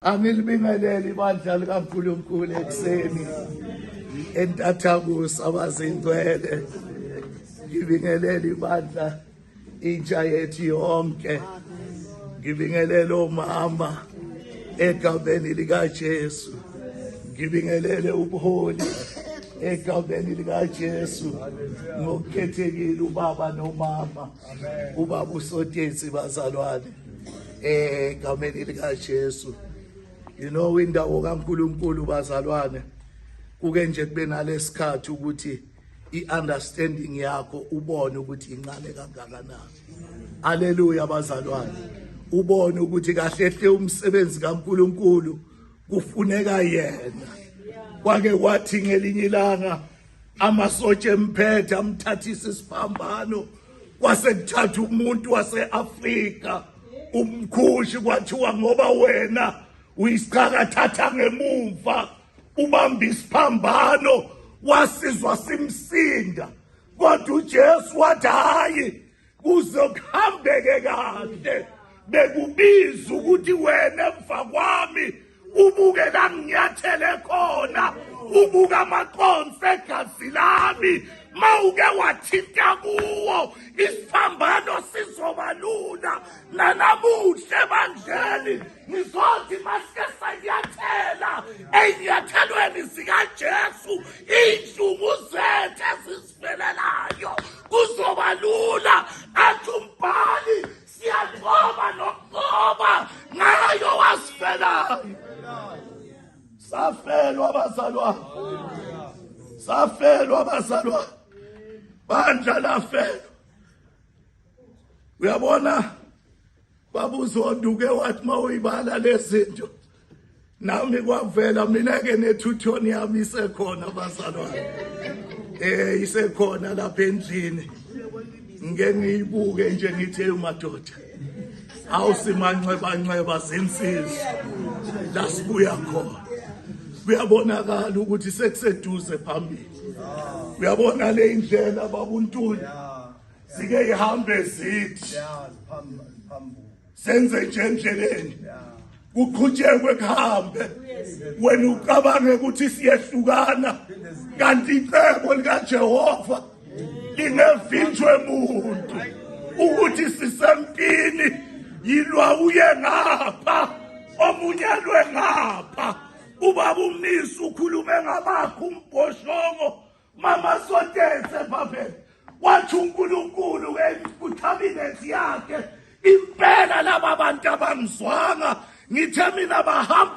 Angilibingeleli ibandla likaNkulunkulu ekuseni entathakusa abazingcwele ngibingelela ibandla intsha yethu yonke ngibingelela omama egameni likaJesu ngibingelele ubuholi egameni likaJesu ngokukhethekile ubaba nomama ubaba usotyensi bazalwane eh egameni likaJesu you know indawo kaNkuluNkulu bazalwane kuke nje kube nalesikhathi ukuthi iunderstanding yakho ubone ukuthi incane kangakanani haleluya bazalwane ubone ukuthi kahle hle umsebenzi kaNkuluNkulu kufuneka yena kwake kwathi ngelinye ilanga Amasotsha emphethe amthathisa isiphambano kwase kuthatha umuntu wase-Afrika umkhushi kwathiwa ngoba wena uyisichaka thatha ngemumva ubamba isiphambano wasizwa simsinda kodwa uJesu wathi hayi kuzokuhambeke kahle bekubiza ukuthi wena emva kwami ubuke la nginyathele khona ubuka amaconsi egazi lami ma uke wathinta kuwo isiphambano sizoba lula nanamuhle ebandleni ngizothi masike sanyathela ey'nyathelweni zikajesu iy'nhlungu zethu Selelayo kuzoba lula athi umbhali siyanqoba nokunqoba ngayo wasifelayo safelwa abazalwane safelwa abazalwane bandla lafelwa uyabona Baba uZondo uke wathi uma uyibala lezinto nami kwavela mina ke nethuthoni yami isekhona bazalwane eh isekhona lapha endlini ngike ngiyibuke nje ngithe umadoda awusimanxeba nxeba zinsizwa lasibuya khona kuyabonakala ukuthi sekuseduze phambili uyabona le indlela babuntuli zike ihambe zithi senze nje endleleni kuqhutshekwe kuhambe wena ucabange ukuthi siyehlukana kanti icebo likaJehova lingevinjwe muntu ukuthi sisempini yilwa uye ngapha omunye lwe ngapha ubaba umnisi ukhulume ngabakho umbhoshongo mama sotese babe wathi uNkulunkulu kuthabile yakhe impela laba bantu abangizwanga ngithe mina bahamba